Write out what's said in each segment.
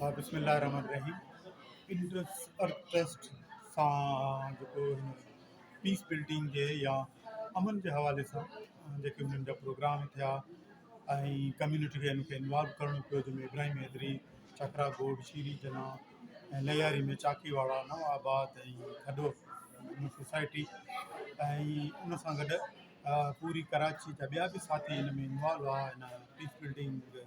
بسم الله الرحمٰن الرحيم انڊس ارٿ ٽرسٽ سان جيڪو هن پيس بلڊنگ جي يا امن جي حوالي سان جيڪي انهن جا پروگرام ٿيا ۽ ڪميونٽي کي ان کي انوالو ڪرڻو پيو جنهن ۾ ابراهيم حيدري چڪرا گوڊ شيري جنا ۽ لياري ۾ چاڪي واڙا نو آباد ۽ کڏو سوسائٽي ۽ ان سان گڏ پوري ڪراچي جا ٻيا به ساٿي ان ۾ انوالو هئا ان پيس بلڊنگ جي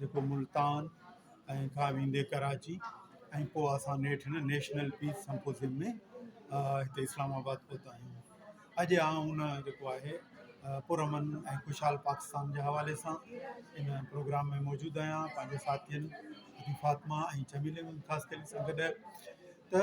جيڪو ملتان ۽ کان ويندي ڪراچي ۽ پوء اسان نيٺ هن نيشنل پيس سمپوزيم ۾ هتي اسلام آباد پهتا آهيون. اڄ آئون ان جيڪو آهي پر امن ۽ خوشحال پاڪستان جي حوالي سان ان پروگرام ۾ موجود آهيان پنهنجي ساٿين حاجي فاطمه ۽ چميلي ممتاز قلي سان گڏ ته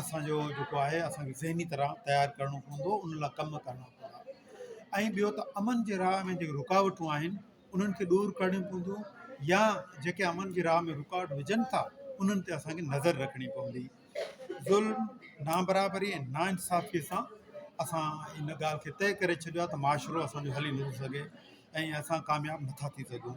اسان جو جيڪو آهي اسان کي ذهني طرح تيار ڪرڻو پوندو ان لاء ڪم ڪرڻا پوندا ۽ ٻيو ته امن جي راهه ۾ جيڪي رڪاوٽون آهن انهن کي ڏور ڪرڻيون پونديون يا جيڪي امن جي راهه ۾ رڪاوٽ وجهن ٿا انهن تي اسان کي نظر رکڻي پوندي ظلم نابرابري ۽ نا انصافي سان اسان ان ڳالهه کي طئي ڪري ڇڏيو آهي ته معاشرو اسان جو هلي نٿو سگهي ۽ اسان ڪامياب نٿا ٿي سگهون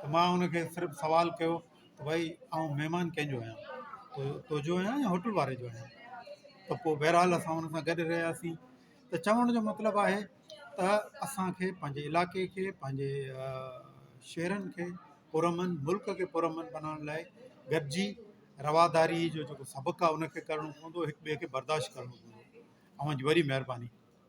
ته مان هن کي صرف سوال ڪيو ته ڀائي آئون مهمان ڪنهن جو آهيان تو تنهنجو آهيان يا هوٽل واري جو آهيان ته پوء بهرحال اسان هن سان گڏ رهياسين ته چوڻ جو مطلب آهي ته اسانکي پنهنجي علاقي کي پنهنجي شهرن کي پر امن ملڪ کي پر امن بنائڻ لاء گڏجي رواداري جو جيڪو سبق آهي ان کي ڪرڻو پوندو هڪ ٻئي کي برداشت ڪرڻو پوندو اوهان جي وڏي مهرباني